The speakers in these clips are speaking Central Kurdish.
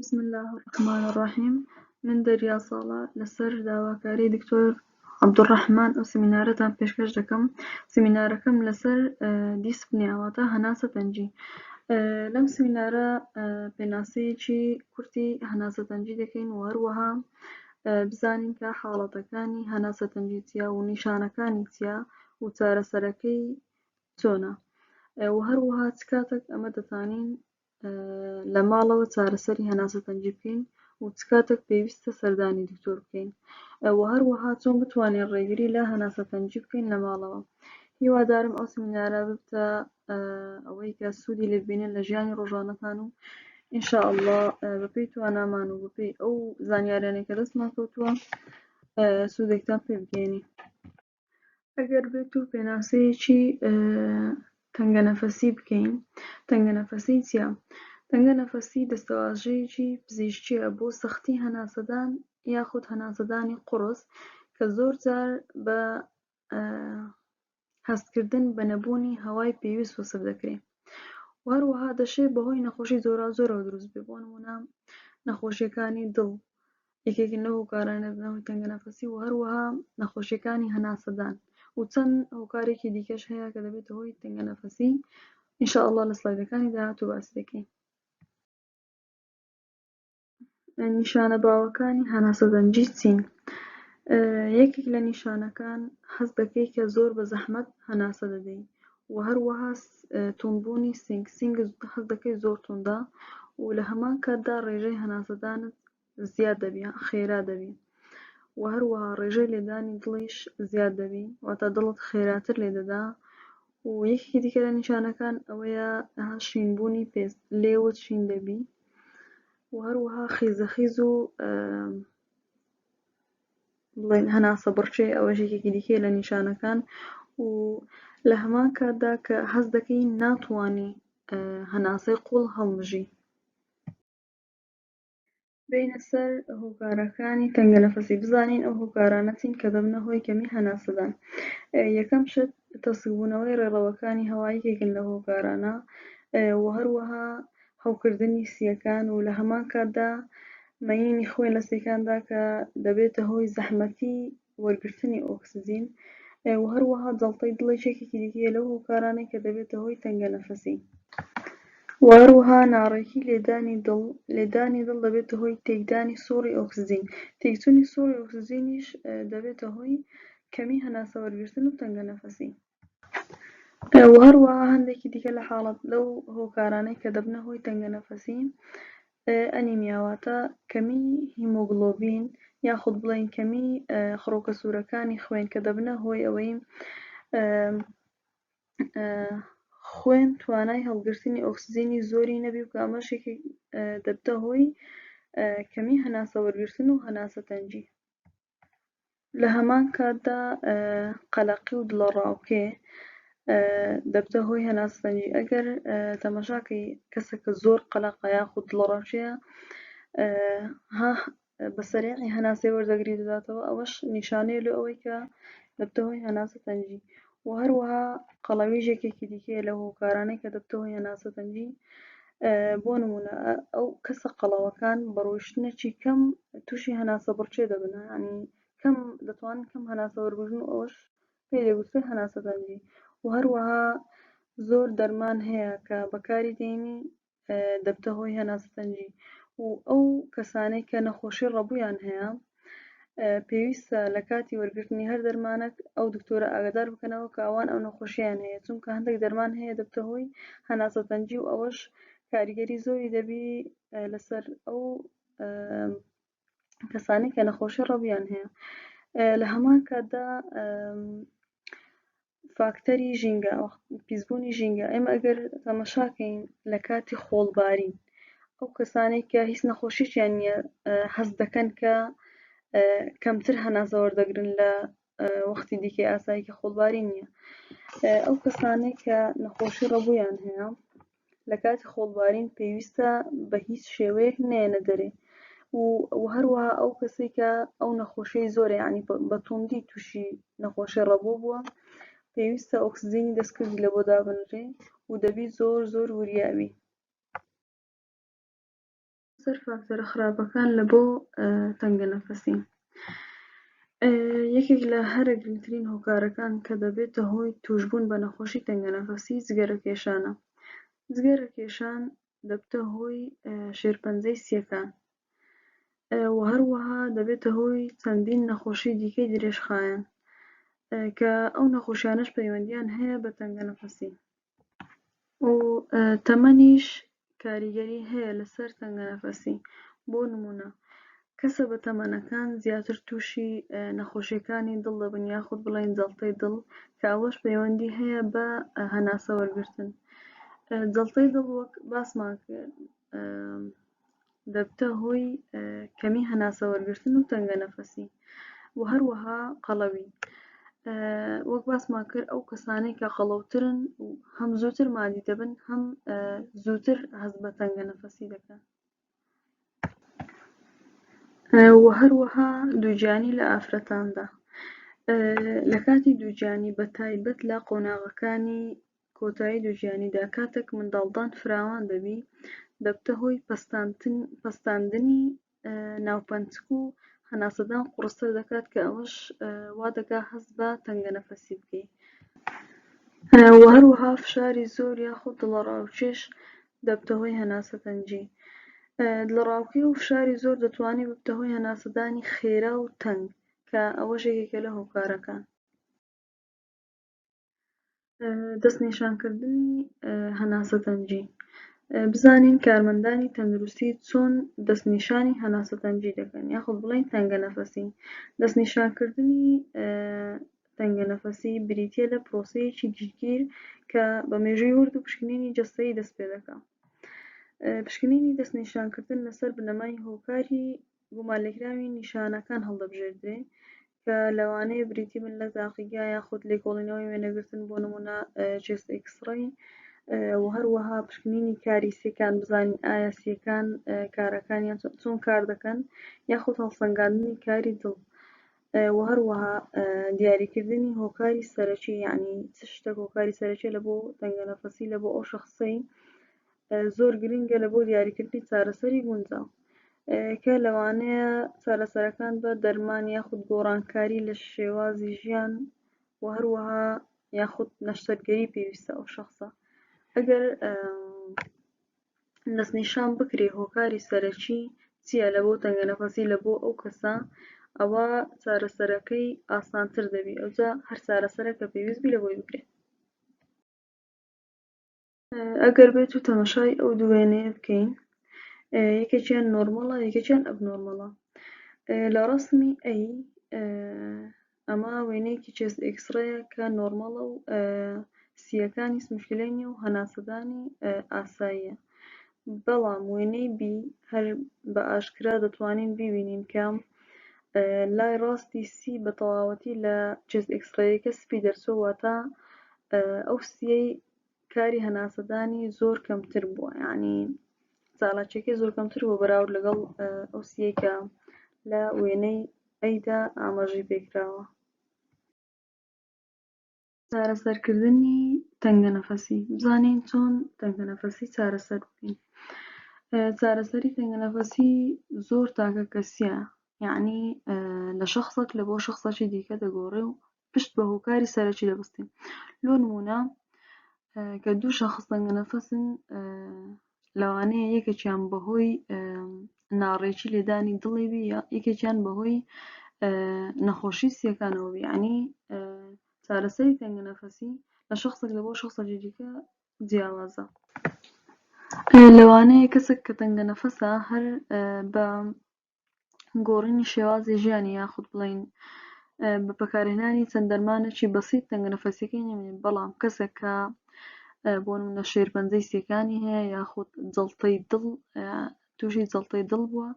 بسم الله الرحمن الرحیم من دەریا ساڵە لەسەر داواکاری دکتۆر عبدالرحمن ئەو سمینارەتان پێشکەش دەکەم سمینارەکەم لەسەر دیسپنیاواتە هەناسە تەنجی لەم سمینارە پێناسەیەکی کورتی هەناسە تەنجی دەکەین و هەروەها بزانین کە حاڵەتەکانی هەناسە تەنجی چیا و نیشانەکانی چیا و چارەسەرەکەی چۆنە و هەروەها چ کاتێک ئەمە دەتانین لە ماڵەوە چارەسەری هەناسە تەنگی بکەین و چ کاتێک پێویستە سەردانی دکتۆر بکەین و هەروەها چۆن بتوانین ڕێگری لە هەناسە تەنگی بکەین لە ماڵەوە هیوادارم ئەو سمینارە ببتە ئەوەی کە سوودی لێ ببینن لە ژیانی ڕۆژانەتان و ئینشاء الله بەپێی توانامان و بەپێی ئەو زانیاریانێک کە دەستمان کەوتووە سوودێکتان پێ بگەێنی ئەگەر بێت و پێناسەیەکی تەنگەنەفەسی بکەین تەنگەنەفەسی چیە تەنگەنەفەسی دەستەواژەیەکی پزیشکیە بۆ سەختی هەناسەدان یاخود هەناسەدانی قڕس کە زۆر جار بە هەستکردن بە نەبوونی هەوای پێویست وەسف دەکرێت وهەروەها دەشێت بەهۆی نەخۆشی زۆرا زۆرەوە دروست بێ بۆ نمونە نەخۆشیەکانی دڵ یەکێکن لەو هۆکارانەی دەبنە هۆی تەنگەنەفەسی و هەروەها نەخۆشیەکانی هەناسەدان و چەند هۆکارێکی دیکەش هەیە کە دەبێتە هۆی تەنگەنەفەسی ان شاء اللە لە سلایدەکانی داهاتوو باسی دەکەین نیشانە باوەکانی هەناسەدەنجی چین یەکێک لە نیشانەکان حەز دەکەی کە زۆر بە زەحمەت هەناسە دەدەی و هەروەها تونبوونی سنگ سنگ حەز دەکەی زۆر توندا و لە هەمان کاتدا ڕێژەی هەناسەدانت زیاد دەبی یان خێرا دەبی و هەروەها ڕێژەی لێدانی دڵیش زیاد دەبی واتە دڵت خێراتر لێ دەدا و یەکێکی دیکە لە نیشانەکان ئەوەیە شینبوونی پێست لێوت شین دەبی و هەروەها خیزەخیز و بڵێن هەناسە بڕچێ ئەوە ژێکێکی دیکە لە نیشانەکان و لە هەمان کاتدا کە هەز دەکەی ناتوانانی هەناسەی قوڵ هەڵمژی بێینە سەر هۆکارەکانی تەنگەنەفەسی بزانین ئەو هۆکارانە چین کە دەبنە هۆی کەمی هەناسەدان یەکەم شت تەسکبوونەوەی ڕێڕەوەکانی هەوایکێکن لە هۆکارانە و هەروەها هەوکردنی سیەکان و لە هەمان کاتدا مەینی خوێن لە سیەکاندا کە دەبێتە هۆی زەحمەتی وەرگرتنی ئۆکسجین و هەروەها جەڵتەی دڵیش یەکێکی دیکەیە لەو هۆکارانەی کە دەبێتە هۆی تەنگەنەفەسی و هەروەها ناڕێکی لێدانی دڵ، لێدانی دڵ دەبێتە هۆی تێکدانی سوڕی ئۆکسجین، تێکچوونی سوڕی ئۆکسجینیش دەبێتە هۆی کەمی هەناسەوەرگرتن و تەنگەنەفەسی. و هەروەها هەندێکی دیکە لە حاڵەت لەو هۆکارانەی کە دەبنە هۆی تەنگەنەفەسی ئەنیمیا واتە کەمی هیمۆگڵۆبین یاخود بڵێین کەمی خڕۆکە سوورەکانی خوێن کە دەبنە هۆی ئەوەی خوێن توانای هەڵگرتنی ئۆکسجینی زۆری نەبی و ئەمەشێکی دەبتە هۆی کەمی هەناسە وەرگرتن و هەناسە تەنگی لە هەمان کاتدا قەلەقی و دڵەڕاوکێ دەبتە هۆی هەناسەتەنگی ئەگەر تەمەشاکەی کەسەکە زۆر قەلەقە یاخود دڵەڕاوکێیە ها بە سەریعی هەناسەی وەردەگری دەداتەوە ئەوەش نیشانەیە لۆ ئەوەی کە دەبتە هۆی هەناسەتەنگی و هەروەها قەڵەویش یەکێکی دیکەیە لەو هۆکارانەی کە دەبتە هۆی هەناسەتەنگی بۆ نمونە ئەو کەسە قەڵەوەکان بە ڕۆیشتنێکی کەم تووشی هەناسە بڕچێ دەبن ینی کەم دەتوان کەم هەناسە وەربژن و ئەوش پێ لێگوترێ هەناسەتەنگی و هەروەها زۆر دەرمان هەیە کە بەکاری دێنی دەبتە هۆی هەناسەتەنگی و ئەو کەسانەی کە نەخۆشی ڕەبوویان هەیە پێویستە لە کاتی وەرگرتنی هەر دەرمانەک ئەو دکتۆرە ئاگدار بکەنەوە کە ئەوان ئەو نەخۆشییان هەیە چونکە هەندێک دەرمان هەیە دەبتە هۆی هەناسەتەنگی و ئەوەش کاریگەری زۆری دەبی لەسەر ئەو کەسانی کە نەخۆشی ڕەبیان هەیە لە هەمان کاتدا فاکتەری ژینگە پیسبوونی ژینگە ئێمە ئەگەر تەمەشاکەین لە کاتی خۆڵباری ئەو کەسانێک کە هیچ نەخۆشییان نیە حەز دەکەن کە کەمتر هەناسەوەەر دەگرن لە وەختی دیکەی ئاساییکە خۆڵباری نییە ئەو کەسانێک کە نەخۆشی ڕەبوویان هەیە لە کاتی خۆڵبارین پێویستە بە هیچ شێوەیەک نەیەنە دەرێ و هەروەها ئەو کەسەی کە ئەو نەخۆشی زۆر یعنی بە توندی تووشی نەخۆشی ڕەبۆ بووە پێویستە ئۆکسزیینی دەستکردی لە بۆ دابنرێ و دەبی زۆر زۆر وریاوی سەر فاکتەرە خراپەکان لە بۆ تەنگە نەفەسی یەکێک لە هەرە گرنگترین هۆکارەکان کە دەبێتە هۆی توشبوون بە نەخۆشی تەنگە نەفەسی جگەرە کێشانە جگەرە کێشان دەبتە هۆی شێرپەنجەی سیەکان و هەروەها دەبێتە هۆی چەندین نەخۆشی دیکەی درێژخایەن کە ئەو نەخۆشیانەش پەیوەندیان هەیە بە تەنگە نەفەسی و تەمەنیش کاریگەری هەیە لەسەر تەنگەنەفەسی بۆ نمونە کەسە بەتەمەنەکان زیاتر توشی نەخۆشیەکانی دڵ دەبن یاخود بڵێن جەڵتەی دڵ کە ئەوەش پەیوەندی هەیە بە هەناسە وەرگرتن جەڵتەی دڵ وەک باسمان کرد دەبتە هۆی کەمی هەناسە وەرگرتن و تەنگە نەفەسی و هەروەها قەڵەوی وەک باسمان کرد ئەو کەسانەی کە قەڵەوترن و هەم زووتر مادی دەبن هەم زووتر هەز بە تەنگە نەفەسی دەکەن و هەروەها دووجانی لە ئافرەتاندا لە کاتی دووجانی بە تایبەت لە قۆناغەکانی کۆتایی دوژیانیدا کاتەک منداڵدان فراوان دەبی دەبتە هۆی پەستاندنی ناوپەنچک و هەناسەدان قوڕستر دەکات کە ئەوەش وادەکا هەست بە تەنگەنەفەسی بکەی وە هەروەها فشاری زۆر یاخود دڵەڕاوکێش دەبتە هۆی هەناسەتەنجی دڵەڕاوکێ و فشاری زۆر دەتوانێت ببتە هۆی هەناسەدانی خێرا و تەنگ کە ئەوەش یەکێکە لە هۆکارەکان دەستنیشانکردنی هەناسەتەنگی بزانین کارمەندانی تەندروستی چۆن دەستنیشانی هەناسەتەنگی دەکەن یاخود بڵین تەنگە نەفەسی دەستنیشانکردنی تەنگە نەفەسی بریتە لە پرۆسەیەکی گشتگیر کە بە مێژووی ورد و پشکنینی جەستەی دەست پێ دەکە پشکنینی دەستنیشانکردن لەسەر بنەمای هۆکاری گومانلێکراوی نیشانەکان هەڵدەبژێردرێ کە لەوانەیە بریتی بن لە تاقیگە یاخود لێکۆڵینەوەی وێنەگرتن بۆ نموونە چێست ئێکسڕەی و هەروەها پشکنینی کاری سیەکان بزانین ئایا سیەکان کارەکانیان چۆن کار دەکەن یاخود هەڵسەنگاندنی کاری دڵ و هەروەها دیاریکردنی هۆکاری سەرەکی یعنی چ شتە هۆکاری سەرەکی لە بۆ تەنگە نەفەسی لە بۆ ئەو شخصی زۆر گرنگە لە بۆ دیاریکردنی چارەسەری گونجاو کە لەوانەیە چارەسەرەکان بە دەرمان یاخود گۆڕانکاری لە شێوازی ژیان و هەروەها یاخود نەشتەرگەری پێویستە ئەو شخصە ئەگەر دەستنیشان بکرێ هۆکاری سەرەکی چییە لە بۆ تەنگە نەفەسی لە بۆ ئەو کەسە ئەوە چارەسەرەکەی ئاسانتر دەبی ئەوجا هەر چارەسەرە کە پێویستبی لە بۆی بکرێت ئەگەر بێت و تەمەشای ئەو دوو وێنەیە بکەین یەکێکیان نۆرمەڵە یەکێکیان ئەب نۆرمەڵە لە ڕسمی ئەی ئەمە وێنەیەکی چێست ئێکسڕەیە کە نۆرمەڵە و سیەکانی مشکلەی نیە و هەناسەدانی ئاساییە بەڵام وێنەی بی هەر بە ئاشکرا دەتوانین ببینین کە لای ڕاستی سی بە تەواوەتی لە چێست ئێکسڕەیەکە سپی دەرچوە واتە ئەو سیەی کاری هەناسەدانی زۆر کەمتر بووە یعنی چالاکیەکەی زۆر کەمتر بۆ بەراورد لەگەڵ ئەو سیەکە لە وێنەی ئەیدا ئاماژەی پێکراوە چارەسەرکردنی تەنگە نەفەسی بزانین چۆن تەنگە نەفەسی چارەسەر بکەین چارەسەری تەنگە نەفەسی زۆر تاکە کەسیە یعنی لە شخصێک لە بۆ شخصەکی دیکە دەگۆڕێ و پشت بە هۆکاری سەرەکی دەبستین لۆ نمونە کە دوو شخص دەنگە نەفەسن لەوانەیە یەکێکیان بەهۆی ناڕێکی لێدانی دڵی بی یەکێکیان بەهۆی نەخۆشی سیەکانەوە بیانی چارەسەری تەنگە نەفەسی لە شخصێک لە بۆ شخصەجی دیکە جیاوازە لەوانەیە کەسێک کە تەنگە نەفەسە هەر بە گۆڕینی شێوازی ژیانی یاخود بڵێین بە پەکارهێنانی چەند دەرمانێکی بەسیت تەنگەنەفەسیەکەی نمێنێت بەڵام کەسێک کە بۆ منە شێرپەنجەی سیەکانی هەیە یاخود جڵتەی دڵ تووشی جڵتەی دڵ بووە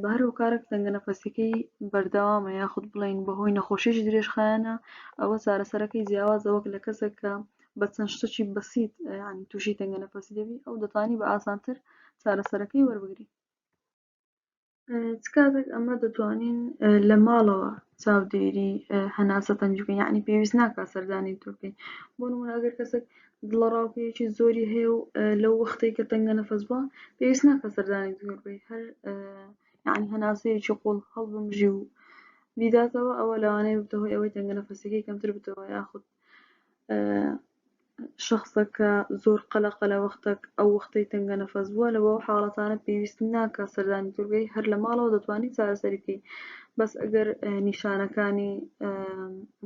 بە هەر هۆکارێک تەنگە نەفەسەکەی بەردەوامە یاخود بڵین بەهۆی نەخۆشیش درێژخایەنە ئەوە چارەسەرەکەی جیاوازە وەک لە کەسێک کە بە چەند شتەکی بەسییت ینی تووشی تەنگە نەفەسی دەبی ئەو دەتانی بە ئاسانتر چارەسەرەکەی وەربگری چ کاتێک ئەمە دەتوانین لە ماڵەوە چاودێری هەناسە تەنج بکەین یعنی پێویست ناکا سەردانی تۆکەین بۆ نمونە ئەگەر کەسێک دڵەڕاوکێکی زۆری هەیە و لەو وەختێک کە تەنگە نەفەس بووە پێویست ناکە سەردانی دکتۆر بکەیت هەر یعنی هەناسەیەکی قوڵ هەڵبمژی و بیداتەوە ئەوە لەوانەیە ببتە هۆی ئەوەی تەنگە نەفەسەکەی کەمتر بتەوە یاخود شەخسەکە زۆر قەلەقە لە وەختەک ئەو وەختەی تەنگە نەفەس بووە لە بۆ حاڵەتانە پێویست ناکە سەردانی دورگەی هەر لە ماڵەوە دەتوانانی چارەسەریکەی بەس ئەگەر نیشانەکانی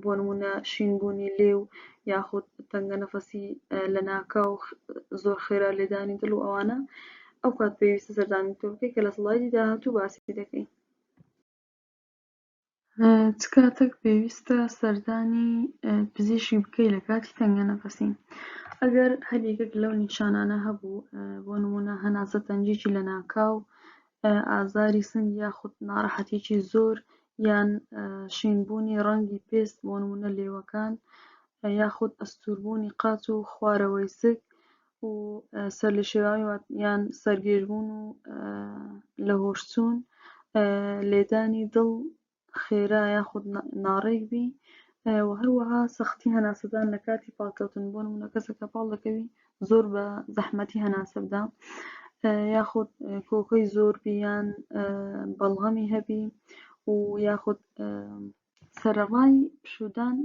بۆ نمونە شینبوونی لێ و یاخود تەنگە نەفەسی لە ناکە و زۆر خێرا لێدانی دڵ و ئەوانە ئەو کات پێویستە سەردانی دورگەی کە لە سڵایدی داهاتوو باسی دەکەین چ کاتێک پێویستە سەردانی پزیشک بکەی لە کاتی تەنگەنەفەسی؟ ئەگەر هەر یەکێک لەو نیشانانە هەبوو، بۆ نموونە هەناسە تەنگیی لەناکاو، ئازاری سنگ یاخود ناڕەحەتیی زۆر یان شینبوونی ڕەنگی پێست بۆ نموونە لێوەکان یاخود ئەستووربوونی قاچ و خوارەوەی سک و سەرلێشێواوی وات یان سەرگێژبوون و لەهۆشچوون لێدانی دڵ خێرا یاخود ناڕێک بی و هەروەها سەختی هەناسەدان لە کاتی پاڵکەوتن بۆ نمونە کەسەکە پاڵ دەکەوی زۆر بە زەحمەتی هەناسە بدا یاخود کۆکەی زۆر بیان بەڵغەمی هەبی و یاخود سەرەڕای پشوودان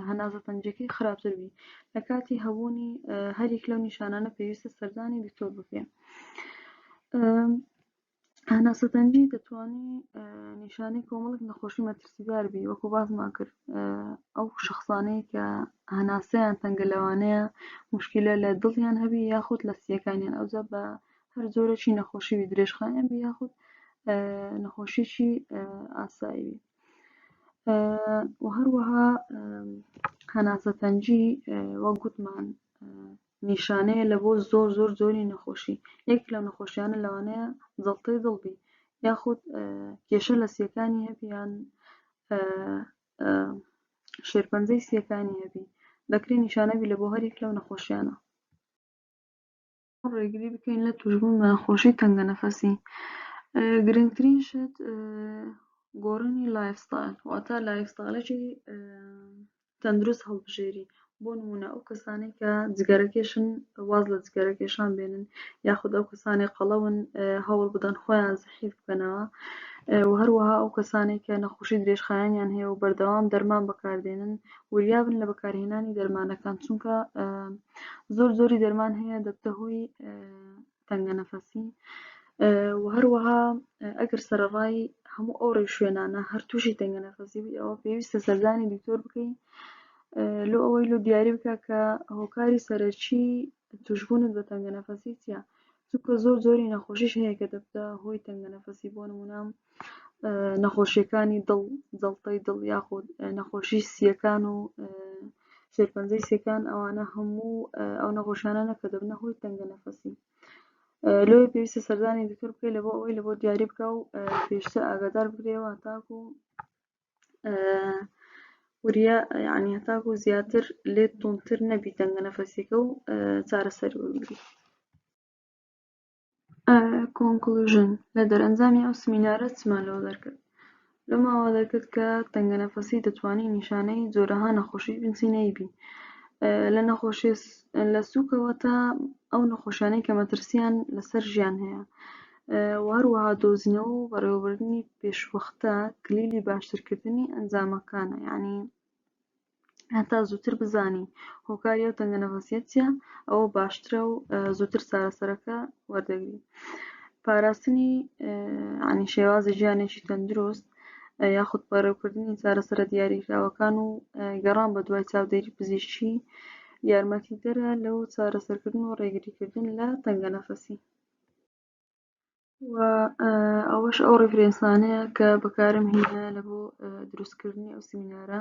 هەناسە تەنگییەکەی خراپتر بی لە کاتی هەبوونی هەریەک لەو نیشانانە پێویستە سەردانی دکتۆر بکرێ. هەناسە تەنگی دەتوانی نیشانەی کۆمەڵک نەخۆشی مەترسیدار بی وەکو باسمان کرد ئەو شخصانەیە کە هەناسەیان تەنگە لەوانەیە مشکلە لە دڵیان هەبی یاخود لە سیەکانیان ئەوجا بە هەر جۆرەی نەخۆشی درێژخایەن بی یاخود نەخۆشیی ئاسایی بی. و هەروەها هەناسەتەنجی وەک گوتمان نیشانەیە لە بۆ زۆر زۆر زۆری نەخۆشی یەک لە نەخۆشیانە لەوانەیە زەڵتەی دڵبی یاخود کێشە لە سیەکانی هەبیان شێرپەنجەی سیەکانی هەبی دەکرێت نیشانەبی لە بۆ هەرێک لەو نەخۆشیانە ڕێگری بکەین لە توشبوون بە نەخۆشی تەنگەنەفەسی گرنگترین شت گۆڕینی لایفستایل واتە لایفستایلێکی تەندروست هەڵبژێری بۆ نمونە ئەو کەسانی کە جگەرەکێشن واز لە جگەرەکێشان بێنن یاخود ئەو کەسانی قەڵەون هەوڵ بدەن خۆیان زحیف بکەنەوە و هەروەها ئەو کەسانی کە نەخۆشی درێژخایەنیان هەیە و بەردەوام دەرمان بەکاردێنن وریابن لە بەکارهێنانی دەرمانەکان چونکە زۆر زۆری دەرمان هەیە دەبتە هۆی تەنگە نەفەسی و هەروەها ئەگەر سەرڕای هەموو ئەو ڕێ شوێنانە هەر تووشی تەنگە نەفەسی بی ئەوە پێویستە سەردانی دکتۆر بکەین لۆ ئەوەی لۆ دیاری بکە کە هۆکاری سەرەکی توشببوونت بە تەنگە نەفەسی چیە چونکە زۆر جۆری نەخۆشیش هەیە کە دەبتە هۆی تەنگەنەفەسی بۆ نمونە نەخۆشیەکانی دڵ جەڵتەی دڵ یاخود نەخۆشی سیەکان و شێرپەنجەی سیەکان ئەوانە هەموو ئەو نەخۆشانە نەکە دەبنە هۆی تەنگەنەفەسی لۆی پێویستە سەردانی دکتۆر بکەی لە بۆ ئەوەی لە بۆ دیاری بکە و پێشتر ئاگادار بکرێەوە تاکو وریا یعنی هەتاکو زیاتر لێت توندتر نەبی دەنگە نەفەسێکە و چارەسەر وەرگری کۆنکلژن لە دەرەنجامی ئەو سمینارە چمان لەوە دەرکرد لە ماوە دەرکرد کە تەنگە نەفەسی دەتوانانی نیشانەی جۆرەها نەخۆشی بنچینەی بی لە نەخۆشی لە سوکەوە تا ئەو نەخۆشیانەی کە مەترسیان لەسەر ژیان هەیە و هەروەها دۆزینەوە و بەڕێوەبردنی پێشوەختە کلیلی باشترکردنی ئەنجامەکانە یعنی هەتا زووتر بزانی هۆکاری ئەو تەنگە نەفەسیە چیە ئەوە باشترە و زووتر چارەسەرەکە وەردەگری پاراستنی عنی شێوازی ژیانێکی تەندروست یاخود پەرەوکردنی چارەسەرە دیاریکراوەکان و گەڕان بە دوای چاودێری پزیشکی یارمەتی دەرە لەو چارەسەرکردن و ڕێگریکردن لە تەنگە نەفەسی و ئەوەش ئەو ڕیفرێنسانەیە کە بەکارم هینایە لە بۆ دروستکردنی ئەو سمینارە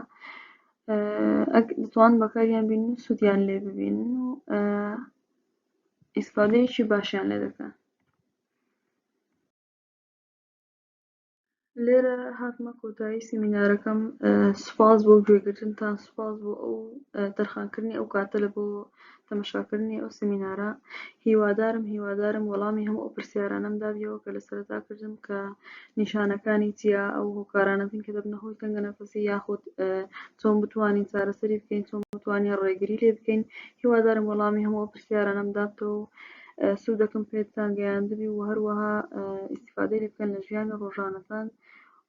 بتوان بەکاریان بین و سوودیان لێ ببین و ئیسفادەیەکی باشیان لێ دەکەن لێرە هاتمە کۆتایی سیمینارەکەم سوپاس بۆ گوێگرتنتان سوپاس بۆ ئەو دەرخانکردنی ئەو کاتە لە بۆ تەمەشاکردنی ئەو سیمینارە هیوادارم هیوادارم وەڵامی هەموو ئەو پرسیارانەم دابیەوە کە لە سەرەتا کردم کە نیشانەکانی چیا ئەو هۆکارانە بین کە دەبنە هۆی تەنگە نەفەسی یاخود چۆن بتوانین چارەسەری بکەین چۆن بتوانین ڕێگری لێ بکەین هیوادارم وەڵامی هەموو پرسیارانەم دابتەوە سودەکم پێتان گەیاندبی و هەروەها ئیسیفادەی لێ بکەن لە ژیانی ڕۆژانەتان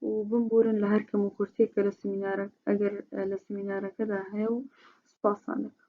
و بمبورن لە هەر کەم و کورتیەک کە لە سمینارە ئەگەر لە سمینارەکەدا هەیە و سوپاستان دەکەم.